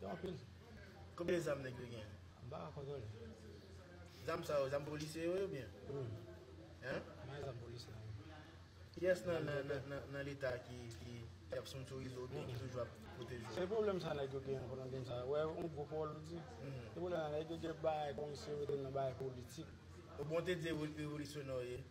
Yo anpil. Konbyen zam nèg yo gen? M pa ka kontwole. Zam sa yo, zam polisye yo ye oubyen? Wi. Hein? Nan e zam polisye yo. Kiyès nan leta ki ap sponsorise yo oubyen ki toujou ap pwoteje yo? Se pwoblèm sa nèg yo gen pou nan peyi sa. Ou wè yon gwo pawòl ou di? Se pwoblèm sa nèg yo gen pou bay komisyon yo mete nan bagay politik. Bon te di revolisyoner w ye.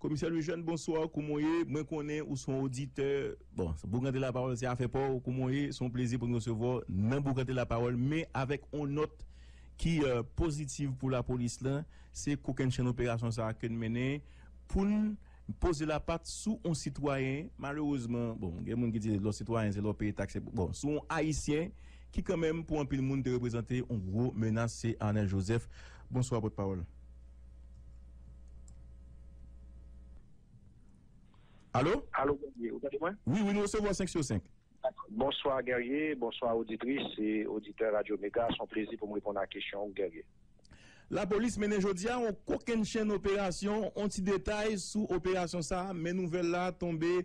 Komisè Lujèn bonsoir kouman w ye? Mwen konnen ou se yon oditè, bon Boukante la Pawòl se afè pa w, kouman w ye? Se yon plezi pou n resevwa w nan Boukante la Pawòl men avèk yon nòt ki pozitiv pou lapolis lan, se kokennchenn operasyon sa a ke n mennen pou n poze lapat sou yon sitwayen malerezman, bon gen moun ki di lò sitwayen se lè w peye taks se pou, bon sou yon ayisyen ki kanmenm pou anpil moun te reprezante yon gwo menas se Arnel Joseph. Bonswa Pòtpawòl. Alo? Alo Guerrier, ou tande mwen? Wi, wi, nou resevwa w 5 sur 5. Bonswa Guerrier, bonswa oditris e oditè Radyo Mega, s on plezi pou m reponn a kesyon ou Guerrier. Lapolis mennen jodi a yon kokennchenn operasyon, yon ti detay sou operasyon sa a men nouvèl la tonbe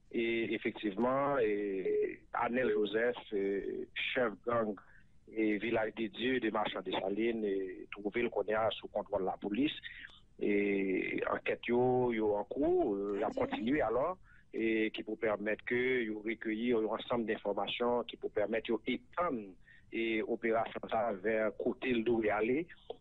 E efektivman, Anel Joseph, chèf gang Vilaj de Dye de Machan Desalin, twouve l kounye a sou kontwòl lapolis. E ankèt yo, yo an kou, y ap kontinye alò, ki pou pèmèt ke yo rekeyi yon ansanm denfòmasyon ki pou pèmèt yo etann operasyon sa a vè kote l dwe ale.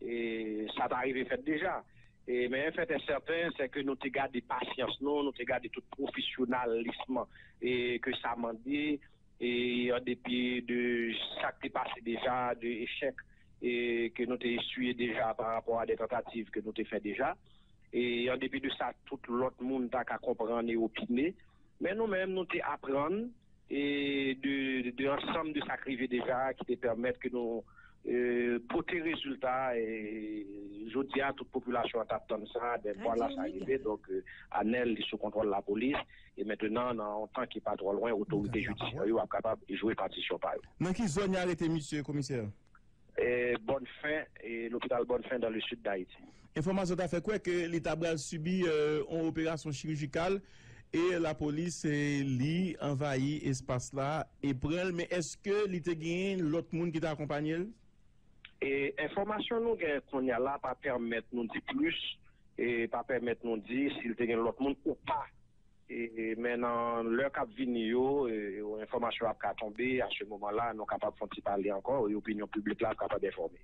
E sa ta rive fèt deja. E men en fait et certain c'est que nou te gade pasyans nou, nou te gade tout profesyonalism e ke sa mande e an depi de sa k te pase deja, de echèk e ke nou te eswiye deja par rapport a de tentative ke nou te fè deja. E an depi de sa tout lòt moun ta ka konprann e opine. Men nou menm nou te aprann de ansanm de sa k rive deja ki te pèmèt ke nou pote rezilta jodi a tout popilasyon an t ap tann sa ben vwala sa rive donk Anèl li sou kontwòl lapolis e mentenan nan yon tan ki pa twò lwen otorite jidisyè yo ap kapab jwe patisyon pa yo. Nan ki zòn y arete misye komisè? Bonnefin e lopital Bonnefin dans le sud d'Haïti. Enfòmasyon ta fè kwè ke li ta bral sibi yon operasyon chirijikal e lapolis li anvayi espas la e pran l men eske li te genyen lòt moun ki te akonpanye l? Enfòmasyon nou gen kounye a la pa pèmèt nou di plis e pa pèmèt nou di si l te gen lòt moun ou pa. Men nan lè kap vini yo, enfòmasyon ap ka tonbe, a se moman la, nou kapab fon ti pale ankò, e opinyon piblik la ap kapab enfòme.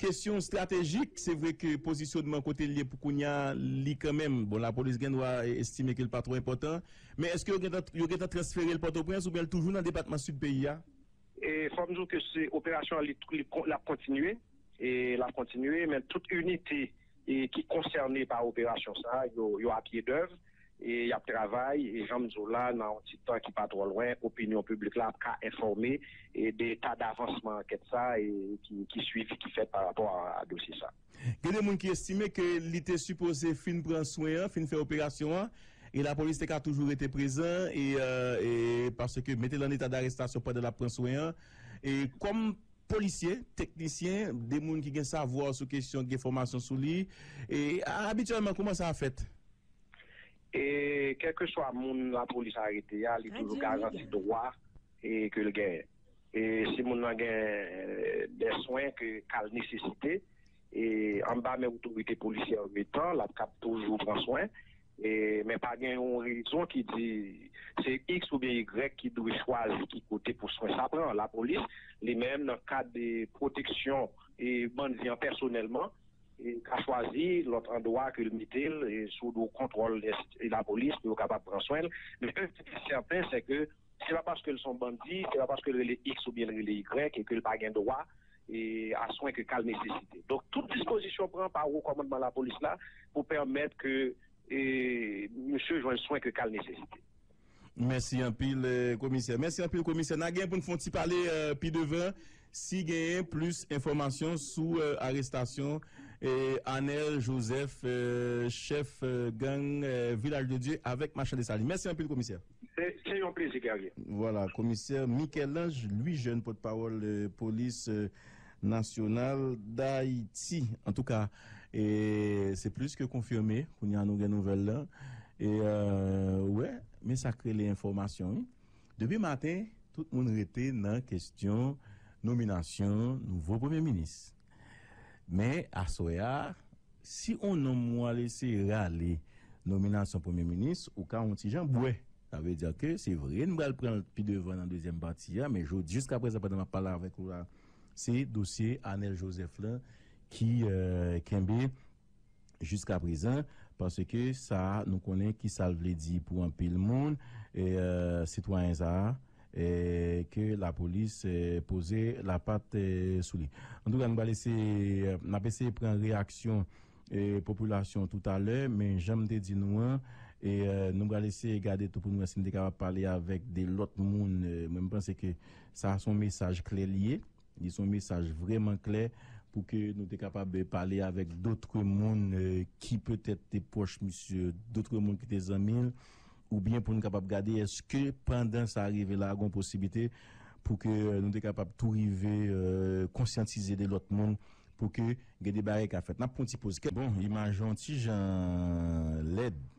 Kesyon estratejik, se vre ke pozisyonman kote l ye pou kounya, li kanmenm, bon lapolis gen dwa estime ke l pa twò enpòtan, men eske yo gentan transfere l Pòtoprens oubyen l toujou nan depatman Sid peyi a? Fò m di w ke se operasyon an li ap kontinye, e l ap kontinye, men tout inite. ki konsène pa operasyon sa yo, yo a pye dèv e y ap travay e jan m di w la nan yon ti tan ki pa twò lwen opinyon piblik la ap ka enfòme de eta davansman ankèt sa e ki swivi ki fèt pa rapò a dosye sa. Gen de moun ki estime ke li te sipoze fin pran swen an, fin fè operasyon an e lapolis te ka toujou rete prezan e paske mete l an eta darestasyon pandan l ap pran swen an e kòm Polisye, teknisyen, de moun ki gen savwa sou kesyon, ki gen fòmasyon sou li. E, abityèlman, kouman sa fèt? E, kèlkeswa moun lapolis arete a, li toujou garanti dwa ke l genyen. E, si moun nan gen de swen ke ka l nesesite, e, anba men otorite polisyè ometan, l ap kab toujou pran swen. Men pa gen yon rezon ki di se iks oubyen igrèk ki dwe chwazi ki kote pou swen sa pran. Lapolis, li menm, nan kad pwoteksyon bandi an pèsonèlman, ka chwazi lòt andwa ke l mete l sou do kontwòl lapolis pou yo kapab pran swen l. Men yon ti te sèten, sèke se pa paske l s on bandi, se pa paske l rele iks oubyen l rele igrèk e ke l pa gen dwa a swen ke ka l nesesite. Donk tout dispozisyon pran pa wo kòmandman lapolis la pou pèmèt ke misye jwenn swen ke ka l nesesite. Mèsi anpil komisè. Mèsi anpil komisè. Na gen pou n fon ti pale pi devan si genyen plis enfòmasyon sou arestasyon Anel Joseph chèf gang Vilaj de Dye avèk Machan Desalin. Mèsi anpil komisè. Se yon plezi Guerrier. Vwala, Komisè Michel-Ange Louis-Jeune, pòtpawòl polis nasyonal Dayiti. Antouka, se plis ke konfime, kounye a nou gen nouvèl la. E ou wè, men sa k rele enfòmasyon wi. Depi maten, tout moun rete nan kestyon nominasyon nouvo Premye Minis. Men, aswè a, si on nonm ou al eseye rale nominasyon Premye Minis, ou ka on ti jan bwè. Sa vle di ke se vre n pral pran l pi devan nan dezyèm pati a, men jodi, jiskaprezan pandan m ap pale avèk ou la, se dosye Anèl Jozèf lan ki kenbe. jiskaprezan paske sa a nou konnen ki sa l vle di pou anpil moun sitwayen sa a ke lapolis poze lapat sou li antouka nou pral eseye n ap eseye pran reyaksyon popilasyon toutalè men jan m te di nou an nou pral eseye gade tou pou nou wè si nou te kapab pale avèk de lòt moun mwen m panse ke sa a son mesaj klè li ye Li son mesaj vreman klè pou ke nou te kapab pale avek dotre moun ki petèt te pwoch misye, dotre moun ki te zanmi l, ou byen pou nou kapab gade eske pandan sa rive la gon posibite pou ke nou te kapab tou rive konsyantize de lot moun pou ke gen de bagay ka fèt. Nap pran yon ti poz kèk. Bon, imaj lan yon ti jan lèd.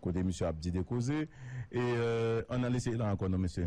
Kote misye ap di de koze. E an nan lese la ankò non mesye.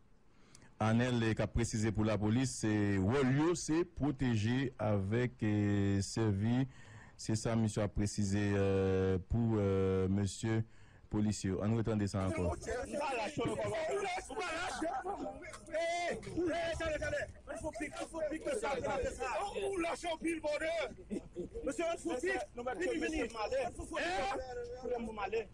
Anel kap presize pou lapolis se wòl yo se pwoteje avèk sèvi se sa misye ap presize pou mesye polisye yo. Ann retande sa ankò.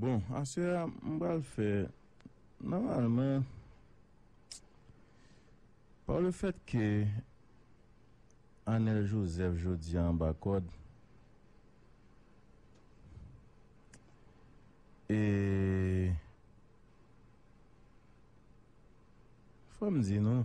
Bon aswè a m pral fè nòmalman pa le fèt ke Anèl Jozèf jodi a anba kòd e fò m di nou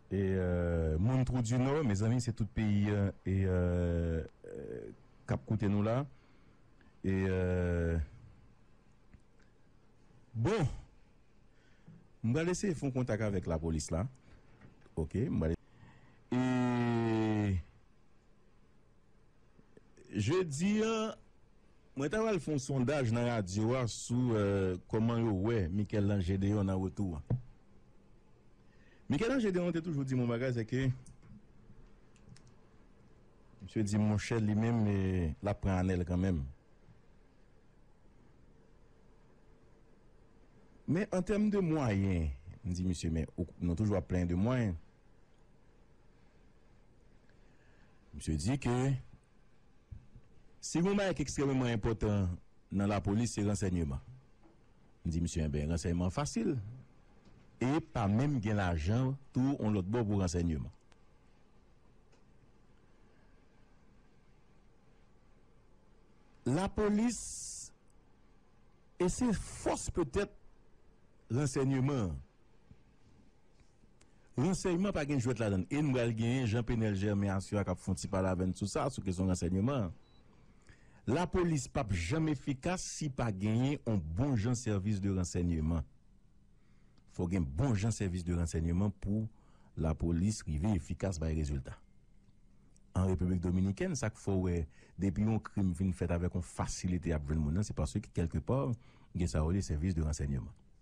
E moun trou du nord mezanmi se tout peyi e kap koute nou la e bon m pral eseye fon kontak avek la polis la ok m pral eseye e jedi an mwen ta pral fon sondaj nan radio a sou koman yo wè michel-ange gedeon nan retou an. Michel-Ange Gédéon te toujou di m yon bagay, se ke misye di m monchè li menm l ap pran anèl kanmenm. Men an tèm de mwayen, m di misye men nou toujou ap plenyen de mwayen. Misye di ke si gen yon bagay ki ekstrememan enpòtan nan lapolis se ransènyeman. M di misye enben ransèyman an fasil e pa menm gen lajan tou on lòt bò pou ransèyman. Lapolis e se fòs petèt ransèyman an. Ransèyman pa gen jwèt ladan l e n pral genyen Jean Penel Germain Asua k ap fè yon ti pale avè n sou sa, sou kesyon ransèyman an. Lapolis p ap janm efikas si pa genyen yon bon jan sèvis de ransèyman. Fò gen bon jan sèvis de ransèyman pou lapolis rive efikas bay rezilta. An Repiblik Dominikèn, sa k fè w wè depi yon krim fin fèt avèk yon fasilite y ap jwenn moun nan se paske kèlke pa gen sa yo rele sèvis de ransèyman.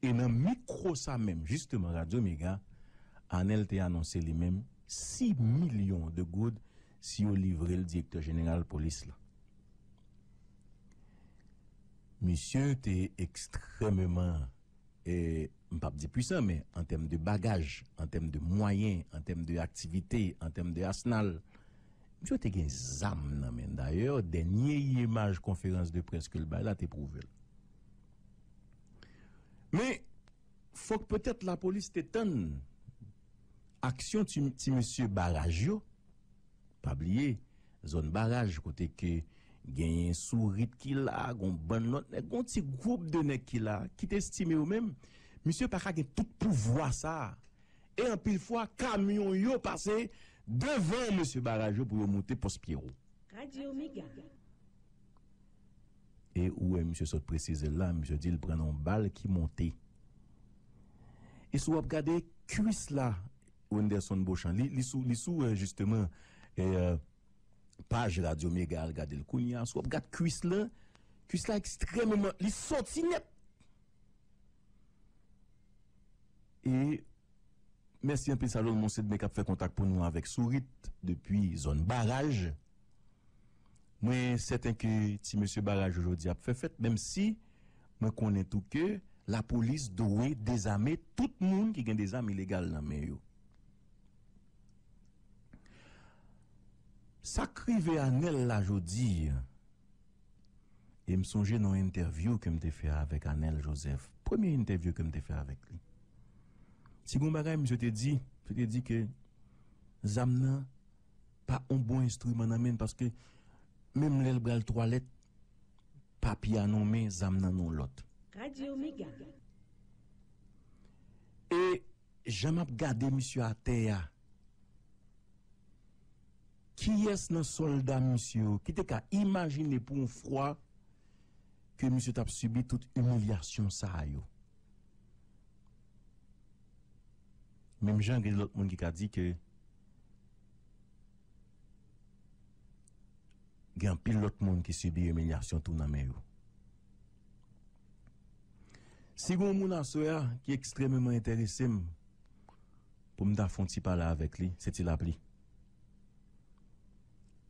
E nan mikwo sa menm jisteman Radyo Mega, Anèl te anonse li menm 6 milyon de goud si yo livre l direktè jeneral polis la. Misye te ekstrèmeman, m p ap di pwisan men an tèm de bagaj, an tèm de mwayen, an tèm de aktivite, an tèm de asnal, misye te gen zam nan men l. Dayè, dènye imaj konferans de près ke l bay la te pwouve l. Men, fòk petèt lapolis te tann aksyon ti mesye baraj yo, pa bliye zòn baraj kote ke genyen Sourit ki la, gon bann lòt nèg, gon ti gwoup de nèg ki la, ki te estime yo menm, misye pa ka gen tout pouvwa sa a. E anpil fwa, kamyon yo pase devan mesye baraj yo pou yo moute pòs Pyero. Radio Mega. E ou wè misye sot presize l la, misye di l pran nan yon bal ki monte. E si w ap gade kuis la Wenderson Beauchamp, li sou li sou jisteman paj Radyo Mega al gade l kounye a, si w ap gad kuis la, kuis la ekstrememan, li soti nèt! E mèsi anpil Salomon Sedme k ap fè kontak pou nou avèk Sourit depi zòn Baraj. Mwen sèten ke ti mesye Barajo jodi ap fè fèt menm si mwen konnen tou ke lapolis dwe dezame tout moun ki gen de zam ilegal nan men yo. Sa k rive Anèl la jodi, e m sonje nan yon entèvyou ke m te fè avèk Anèl Jozèf, premye entèvyou ke m te fè avèk li, si gen yon bagay misye te di, li te di ke zam nan pa on bon enstriman nan menn paske menm lèl bral twalèt papi a non men zam nan non lòt. Radio mega. E jan map gade misye atè a. Kiyès nan sòlda misye yo ki te ka imajine pou yon fwa ke misye tap sibi tout imilyasyon sa yo. Menm jan gen lòt moun ki ka di ke gen anpil lòt moun ki sibi imilyasyon tou nan men yo. Si gen yon moun aswè a ki ekstrememan enterese m pou m ta fè yon ti pale avèk li, se Ti Lapli.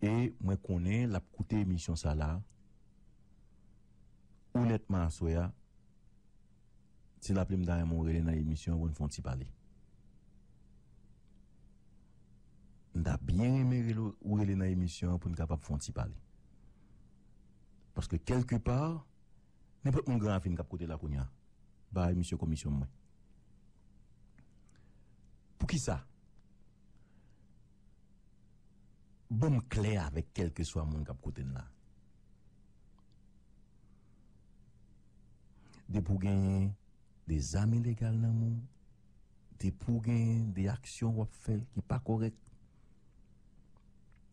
E mwen konnen l ap koute emisyon sa la onètman aswè a. Ti lapli m ta renmen w rele nan emisyon an pou n fè yon ti pale. M ta byen renmen rele ou rele nan emisyon an pou n kapab fè yon ti pale. Paske kelke pa, nenpòt moun gran ravin k ap koute la kounya, ba e misye komisyon mwen. Poukisa? Ban m klè avèk kelke swa moun k ap koute n la. Depi w genyen de zam ilegal nan men w, depi w genyen de aksyon w ap fè ki pa kòrèk,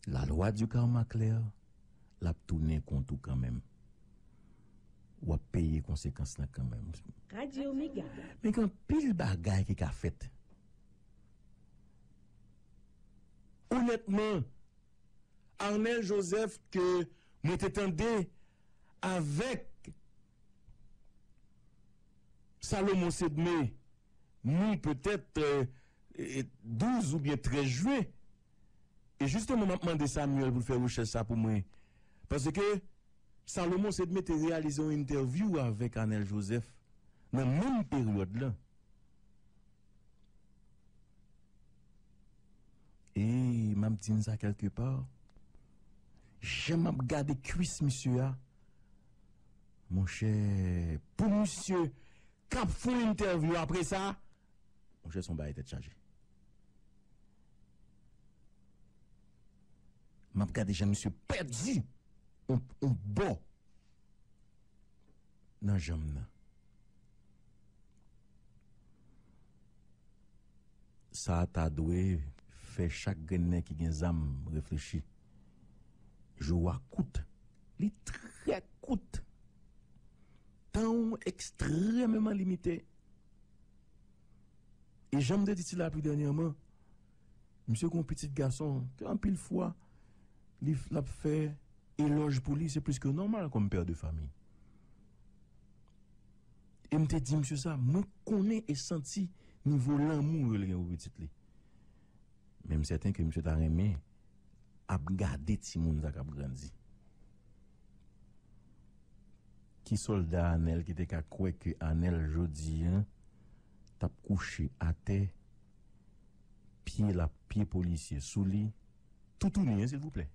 la loi du karma claire, l ap tounen kont ou kanmenm. W ap peye konsekans lan kanmenm. Radio Mega. Men gen anpil bagay ki ka fèt. Onètman, Arnel Joseph ke mwen te tande. Avèk Salomon Sedme nou petèt 12 oubyen 13 jwen e jisteman m ap mande Samuel pou l fè rechèch sa pou mwen paske Salomon Sedme te reyalize yon entèvyou avèk Anèl Jozèf nan menm peryòd lan. Eyy map di n sa kelke pa. Jan map gade kwis misye a monchè pou misye kap fon entèvyou apre sa monchè son bagay tèt chaje. Map gade jan misye pèdi on bò. nan janm nan. Sa a ta dwe fè chak grennen ki gen zam reflechi. Jou w a kout. Li trè kout. Tan w ekstrèmeman limite. E jan m te di ti lapli dènyèman. Misye gen yon pitit gason ke anpil fwa li ap fè elòj pou li, se plis ke nòmal kòm pè de fami. E m te di misye sa, mwen konnen e santi nivo lanmou yo li gen pou pitit li. Men m sèten ke misye ta renmen ap gade timoun sa k ap grandi. Ki sòlda Anèl ki te ka kwè ke Anèl jodi an t ap kouche atè? pye lap pye polisye sou li toutouni hein silvouplè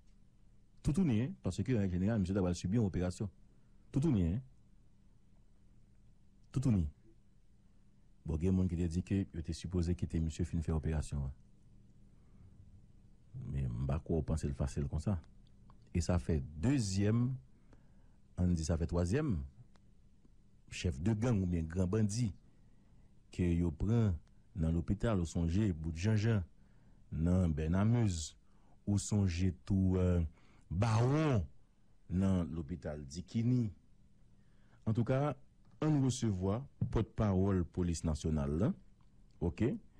toutouni hein paske an jeneral misye ta pral sibi yon operasyon toutouni hein toutouni bon gen moun ki te di ke yo te sipoze kite misye fin fè operasyon an men m pa kwè w pansel fasil konsa e sa fè dezyèm ann di sa fè twazyèm chèf de gang oubyen gran bandi. ke yo pran nan lopital ou sonje bout janjan nan bènamuz ou sonje tou bawon nan lopital dikini antouka ann resevwa pòt pawòl polis nasyonal lan ok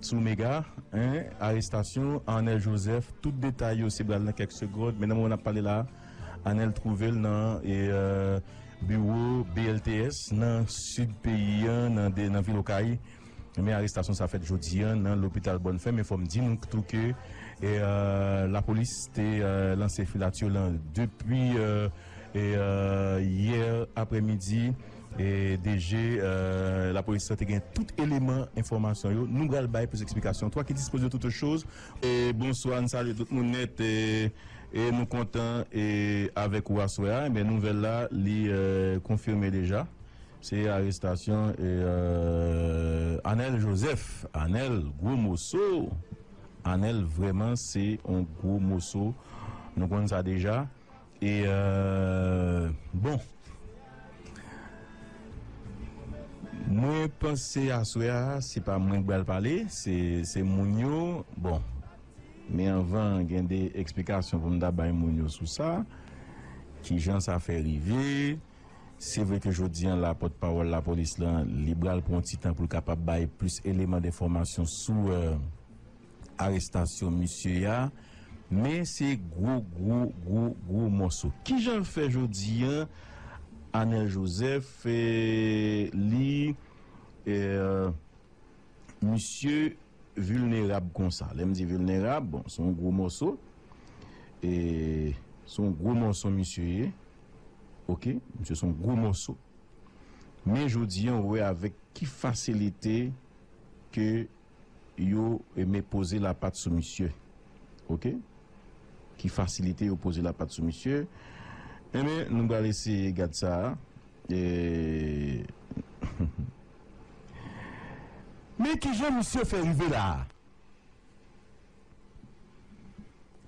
Sou mega 1 arestasyon Arnel Joseph tout detay yo se bal nan kèk segond men nan moman nap pale la Arnel twouvel nan biwo BLTS nan sid peyi an nan vil okay men arestasyon sa fèt jodi an nan lopital bòn fè men fòm di nou tou ke lapolis te lanse filatyo lan depi yè aprè midi. DG, Lapolis la te gen tout eleman enfòmasyon yo. Nou pral bay plis eksplikasyon. Toi qui dispose de toutes choses. Bonswa, n salye tout moun nèt e nou kontan avèk ou aswè a. Enben nouvèl la li konfime deja, se arestasyon Anèl Jozèf. Anèl gwo moso, Anèl vrèman se yon gwo moso. Nou konn sa deja E bon Mwen panse aswè a se pa mwen k bal pale se moun yo bon men anvan gen de eksplikasyon pou m ta bay moun yo sou sa kijan sa fè rive se vre ke jodi an la pòt pawòl lapolis lan li bal pran yon ti tan pou l kapab bay plis eleman denfòmasyon sou. arestasyon misye a men se gwo gwo gwo gwo mòso kijan l fè jodi an Anel Joseph li misye vilnerab konsa lè m di vilnerab bon son gwo mòso son gwo mòso misye ye ok misye son gwo mòso men jodi an ou wè avèk ki fasilite ke. yo eme poze lapat sou misye ok ki fasilite yo poze lapat sou misye enben nou bal eseye gad sa humm men kijan misye fè rive la a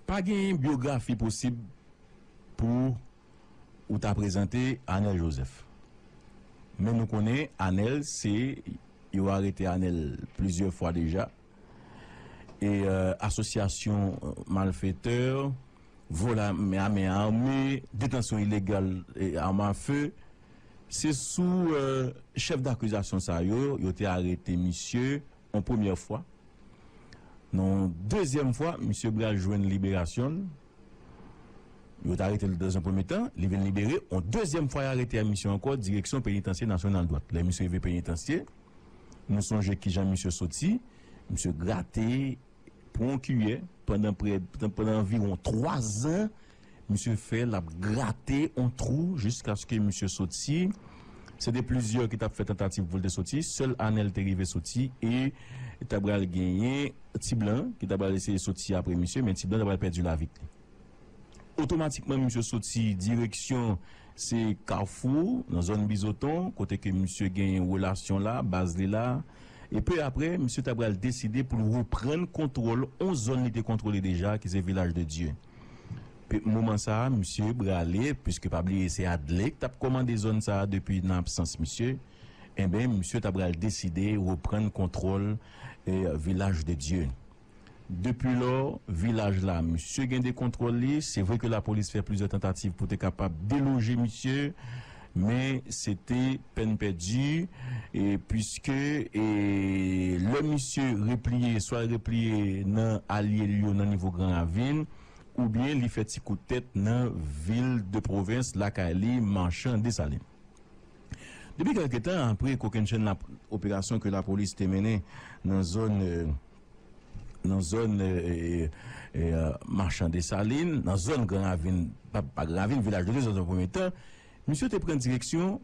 pa genyen byografi posib pou Ou ta prezante anel joseph. Men nou konnen anel se yo arete anel plizyè fwa deja e asosyasyon malfetè vol a men ame detansyon ilegal arm a feu se sou chef dakizasyon sa yo yo te arete misye yon premyè fwa nan yon dezyèm fwa misye bral jwenn liberasyonl. Yo t arete l dans un premye tan, li vin libere, on dezyèm fwa y arete a misye ankò direksyon penitansye nasyonal dwat. Lè misye rive penitansye, nou sonje kijan misye soti, misye grate pou on kiyè pandan prè, pandan anviwon 3 zan, misye fè l ap grate on twou jiskaske misye soti. Se te plizyè ki t ap fè tantativ pou l te soti. Sèl Anèl te rive soti e ta pral genyen Ti Blan ki ta pral eseye soti apre misye, men Ti Blan ta pral pèdi lavi li. Otomatikman misye soti direksyon se Kafou nan zòn Bizoton kote ke misye genyen relasyon la, baz li la. E pe apre, misye ta pral deside pou l reprann kontwòl on zòn li te kontwole deja ki se Vilaj de Dye. Pi moman sa a misye brale piske pa bliye se Adlé k t ap kòmande zòn sa a depi nan absans misye enben misye ta pral deside reprann kontwòl Vilaj de Dye. Depilò vilaj la misye gen de kontwòl li se vre ke lapolis fè plizyè tantativ pou te kapab deloje misye Men se te pèn pèdi puiske lè misye repliye swa l repliye nan alye l yo nan nivo Gran Ravin oubyen li fè ti kout tèt nan vil de pwovens lakay li Marchand Dessalines. Depi kèlke tan apre kokennchenn operasyon ke lapolis te mennen nan zòn. nan zòn Machan Desalin, nan zòn Gran Ravin, pa Gran Ravin, Vilaj de Dye, zòn zòn premye tan, misye te pran direksyon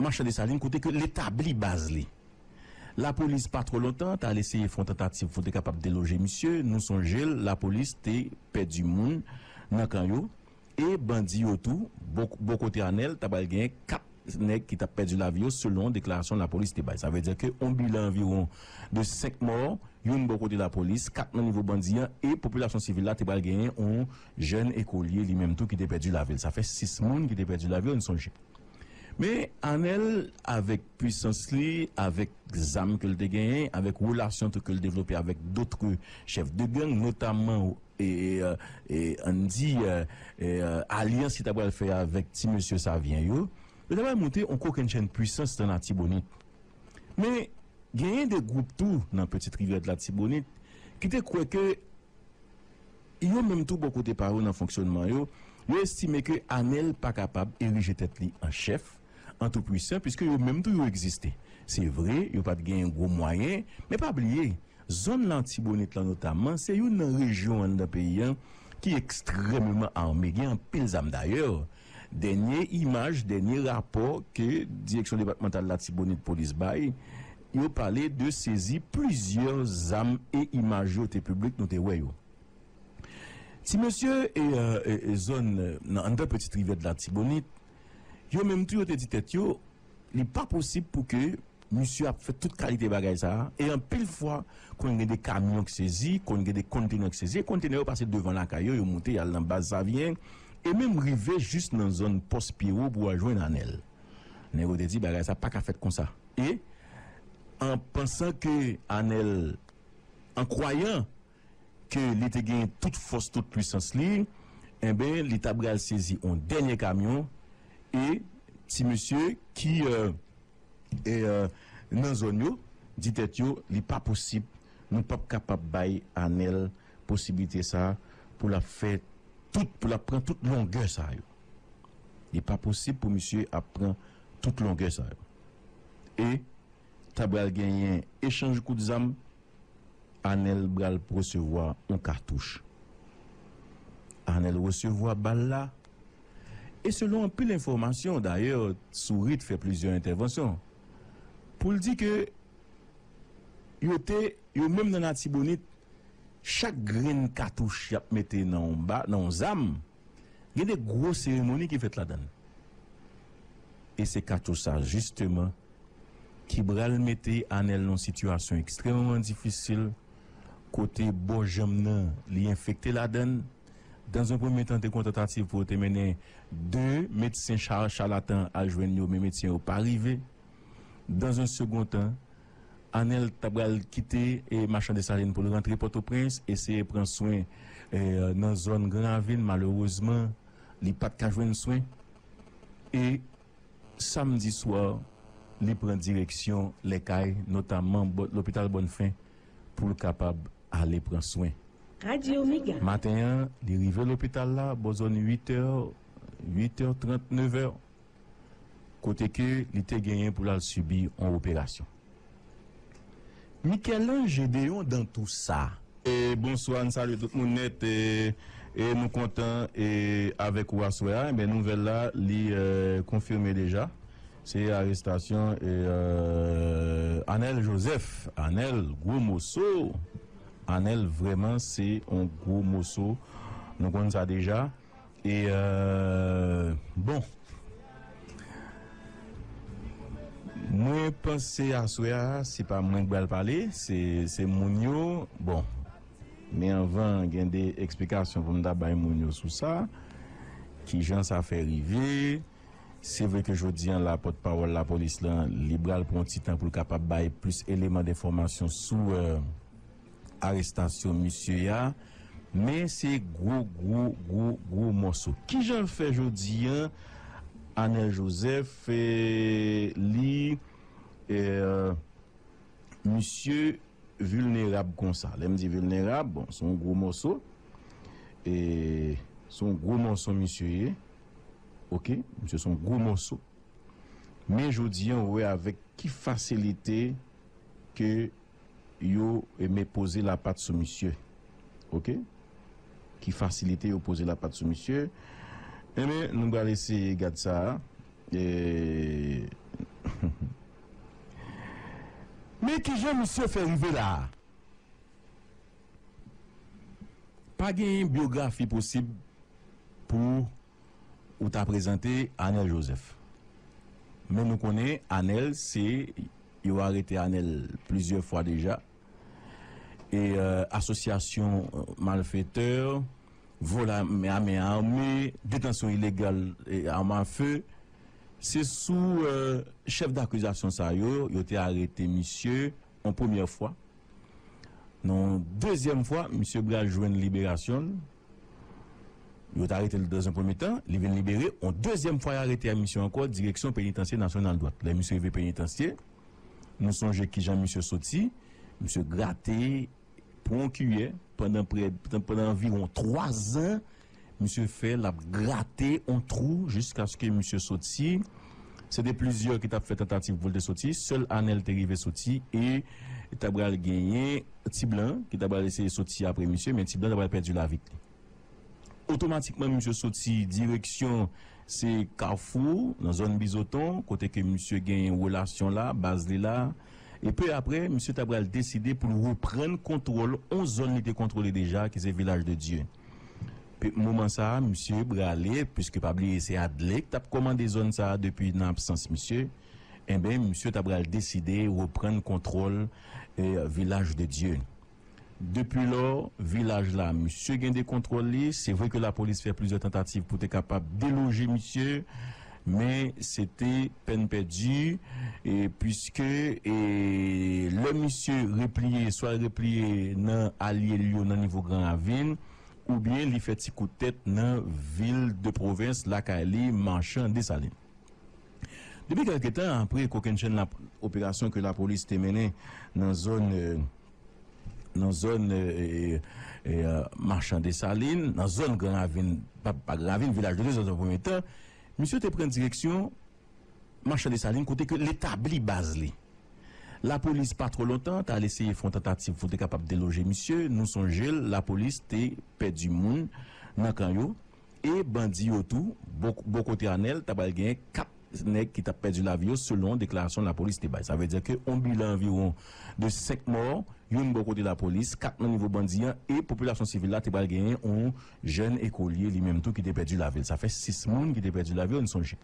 Machan Desalin kote ke li tabli baz li. Lapolis pa twò lontan ta al eseye fè yon tantativ pou te kapab deloje misye, nou sonje l, lapolis te pèdi moun nan kan yo. E bandi yo tou. Bò kote Anèl, ta pral gen 4 nèg ki t ap pèdi lavi yo selon deklarasyon lapolis te bay. Sa vle di ke yon bilan anviwon de 5 mò, youn bò kote lapolis, 4 nan nivo bandi an e popilasyon sivil la te pral genyen yon jèn ekolye li menm tou ki te pèdi lavi l. Sa fè 6 moun ki te pèdi lavi yo n sonje. Men Anèl avèk pwisans li, avèk zam ke l te genyen, avèk relasyon tou ke l devlope avèk dotre chèf de gang notamman. E ann di alyans li ta pral fè avèk ti mesye Savyen yo, yo ta pral monte yon kokennchenn pwisans nan Latibonit. Men, genyen de gwoup tou nan Petite Rivière de l'Artibonite ki te kwè ke yo menm tou bò kote pa yo nan fonksyònman yo, yo estime ke Anèl pa kapab erije tèt li an chèf, an tou pwisan piske yo menm tou yo egziste. Se vre, yo pa t genyen gwo mwayen, men pa bliye, zòn Latibonit lan notamman se youn nan rejyon anndan peyi an ki ekstrèmeman ame, gen anpil zam. Dayè, dènye imaj, dènye rapò ke Direksyon Depatmantal Latibonit Polis bay, yo pale de sezi plizyè zam e imaj yo te piblik, nou te wè yo. Ti mesye, zòn nan anndan Petite Rivière de l'Artibonite, Yo menm tou yo te di tèt yo, Li pa posib pou ke misye ap fè tout kalite bagay sa a, e anpil fwa konn gen de kamyon k sezi, konn gen de konntenè k sezi, e konntenè yo pase devan lakay yo, yo moute y al nan baz Savyen, e menm rive jis nan zòn pòs Pyewo pou al jwenn Anèl. Nèg yo te di bagay sa a pa ka fèt konsa, e an pansan ke Anèl, an kwayan. ke li te genyen tout fòs, tout pwisans li, enben, li ta pral sezi yon dènye kamyon, e ti mesye ki nan zòn yo di tèt yo, li pa posib, nou pap kapab bay Anèl posiblite sa a pou l ap fè tout, pou l ap pran tout longè sa yo. Li pa posib pou misye ap pran tout longè sa yo. E ta pral genyen echanj kout zam Anel bral resevwa yon katouch. Anel resevwa bal la e selon anpil enfòmasyon dayè Sourit fè plizyè entèvansyon pou l di ke yo te yo menm nan Latibonit chak grenn katouch y ap mete nan yon zam Gen de gwo seremoni ki fèt ladan l. E se Kato sa jisteman ki bral mete Anèl nan yon sitiyasyon ekstrèmeman difisil kote bò janm nan li enfekte ladan l. Dans un premier temps te gon tantativ pou yo te mennen 2 medsen charlatan al jwenn yo men medsen yo pa rive. Dans un second temps. Anèl ta pral kite Machan Desalin pou l rantre Pòtoprens, eseye pran swen nan zòn Gran Ravin, malerezman li pa t ka jwenn swen e samdi swa li pran direksyon lè kay, notaman lopital Bònfen pou l kapab ale pran swen. Maten an, li rive lopital la bò zòn uitè, uitè trant, nevè. kote ke li te genyen pou lal sibi on operasyon. Michel-Ange Gédéon dan tou sa. Bonswa, n salye tout moun nèt e nou kontan e avèk ou aswè a, enben nouvèl la li konfime deja, se arestasyon Anèl Jozèf, Anèl gwo moso, Anèl vrèman se on gwo moso, nou konn sa deja. E bon Mwen panse aswè a se pa mwen k bal pale se moun yo bon men anvan gen de eksplikasyon pou m ta bay moun yo sou sa kijan sa fè rive se vre ke jodi an la pòt pawòl lapolis lan li bal pran yon ti tan pou l kapab bay plis eleman denfòmasyon sou. arestasyon misye a, men se gwo gwo gwo gwo mòso. Kijan l fè jodi an Anèl Jozèf li misye vilnerab konsa? Lè m di vilnerab, bon, se yon gwo mòso, se yon gwo mòso misye ye, oke, misye se yon gwo mòso. Men jodi an ou wè avèk ki fasilite ke. yo eme poze lapat sou misye ok ki fasilite yo poze lapat sou misye enben nou bal eseye gad sa humm men kijan misye fè rive la a pa genyen byografi posib pou Ou ta prezante anel joseph. Men nou konnen anel se yo arete anel plizyè fwa deja e asosyasyon malfetè volè amen ame detansyon ilegal arm a feu se sou chèf dakizasyon sa yo yo te arete misye yon premyè fwa nan yon dezyèm fwa misye bral jwenn liberasyonl. Yo t arete l dans un premye tan, li vin libere, on dezyèm fwa y arete misye ankò direksyon Penitansye Nasyonal Dwat. Lè misye rive Penitansye, nou sonje kijan misye soti, misye grate pou on kiyè pandan prè, pandan anviwon 3 zan, misye fè l ap grate on twou jiskaske misye soti, se te plizyè ki t ap fè tantativ pou l te soti, sèl Anèl te rive soti e ta pral genyen. Ti blan an ki ta pral eseye soti apre misye men ti blan ta pral pèdi lavi t li. Otomatikman misye soti direksyon se kafou nan zòn bizoton kote ke misye gen relasyon la, baz li la e peu apre misye ta pral deside pou l reprann kontwòl on zòn li te kontwole deja ki se vilaj de dye. Pe moman sa misye brale puiske pa bliye se Adley k tap kòmande zòn sa depi nan absans misye. Enben, misye ta pral deside reprann kontwòl Vilaj de Dye. Depilò, vilaj la, misye gen de kontwòl li. Se vre ke lapolis fè plizyè tantativ pou te kapab deloje misye, men se te pèn pèdi, puiske lè misye repliye, swa l repliye nan alye l yo nan nivo Gran Ravin, oubyen li fè ti kout tèt nan vil de pwovens, lakay li, Marchand, Dessalines. Depi kèlke tan apre kokennchenn operasyon ke lapolis te mennen nan zòn nan zòn Machan Desalin, nan zòn Gran Ravin, pa Gran Ravin, Vilaj de Dye nan yon premye tan, misye te pran direksyon Machan Desalin kote ke li tabli baz li. Lapolis pa twò lontan ta al eseye fè yon tantativ pou te kapab deloje misye. Nou sonje l lapolis te pèdi moun nan kan yo. E bandi yo tou, bò kote Anèl ta pral genyen 4 nèg ki t ap pèdi lavi yo selon deklarasyon lapolis te bay. Sa vle di ke yon bilan anviwon de 5 mò, youn bò kote lapolis, 4 nan nivo bandi an e popilasyon sivil la te pral genyen yon jèn ekolye li menm tou ki te pèdi lavi l. Sa fè 6 moun ki te pèdi lavi yo, n sonje.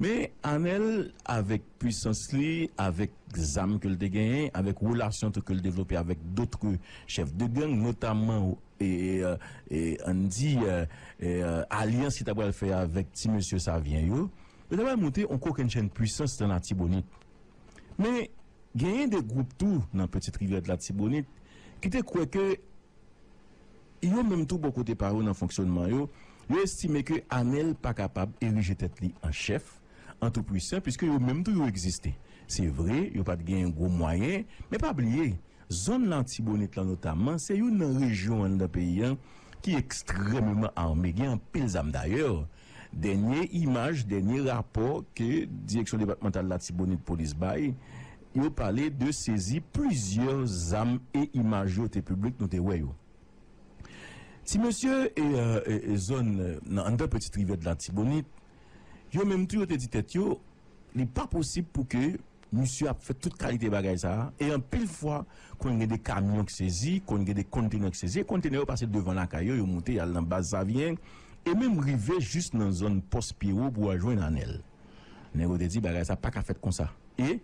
Men Anèl avèk. pwisans li, avèk zam ke l te genyen, avèk relasyon tou ke l devlope avèk dotre chèf de gang, notamman ann di alyans ki ta pral fè avèk ti mesye Savyen yo, yo ta pral monte yon kokennchenn pwisans nan Latibonit. Men, genyen de gwoup tou nan Petite Rivière Latibonit ki te kwè ke yo menm tou bò kote pa yo nan fonksyonnman yo, yo estime ke Anèl pa kapab erije tèt li an chèf, an tou pwisan piske yo menm tou yo egziste. Se vre, yo pa t gen gwo mwayen, men pa bliye, zòn Latibonit lan notamman se youn nan rejyon anndan peyi a ki ekstrèmeman ame, gen anpil zam. Dayè, dènye imaj, dènye rapò ke Direksyon Depatmantal Latibonit Polis bay, yo pale de sezi plizyè zam e imaj yo te piblik, nou te wè yo. Ti mesye, zòn nan anndan Petite Rivière de l'Artibonite. Yo menm tou yo te di tèt yo, Li pa posib pou ke misye ap fè tout kalite bagay sa a, e anpil fwa konn gen de kamyon k sezi, konn gen de konntenè k sezi, e konntenè yo pase devan lakay yo, yo moute y al nan Baz Savyen, e menm rive jis nan zòn Pòs Pyewo pou al jwenn Anèl. Nèg yo te di bagay sa a pa ka fèt konsa, e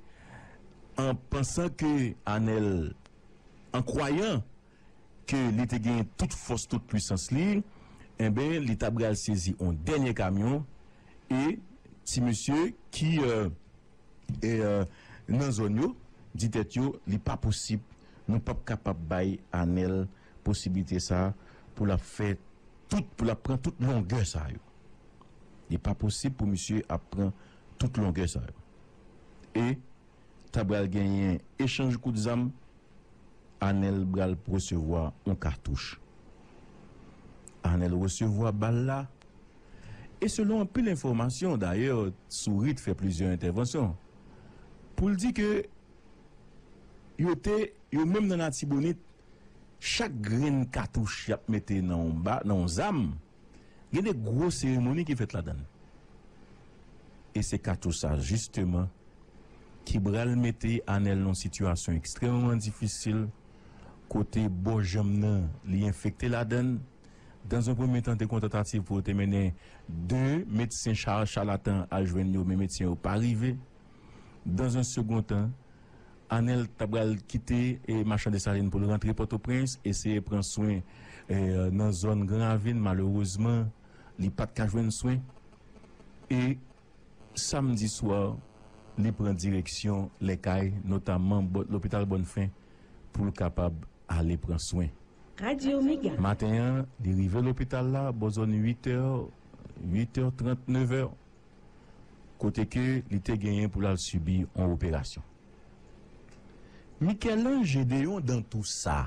an pansan ke Anèl, an kwayan ke li te genyen tout fòs, tout pwisans li, enben, li ta pral sezi on dènye kamyon, e ti mesye ki nan zòn yo di tèt yo, li pa posib, nou p ap kapab bay Anèl posiblite sa a pou l ap fè tout, pou l ap pran tout longè sa yo. Li pa posib pou misye ap pran tout longè sa yo. E ta pral genyen echanj kout zam Anel bral resevwa yon katouch. Anel resevwa bal la e selon anpil enfòmasyon dayè Sourit fè plizyè entèvansyon pou l di ke yo te yo menm nan Latibonit chak grenn katouch y ap mete nan yon zam Gen de gwo seremoni ki fèt ladan l. E se Kato sa jisteman ki bral mete Anèl nan yon sitiyasyon ekstrèmeman difisil kote bò janm nan li enfekte ladan l. Dans un premier temps te gon tantativ pou yo te mennen 2 medsen charlatan al jwenn yo men medsen yo pa rive. Dans un second temps. Anèl ta pral kite Machan Desalin pou l rantre Pòtoprens, eseye pran swen nan zòn Gran Ravin. Malerezman, li pa t ka jwenn swen e samdi swa li pran direksyon lè kay, notaman lopital Bonnfen pou l kapab ale pran swen. Maten an, li rive lopital la bò zòn uitè, uitè trant, nevè. kote ke li te genyen pou lal sibi yon operasyon. Michel-Ange Gédéon Dantoussa.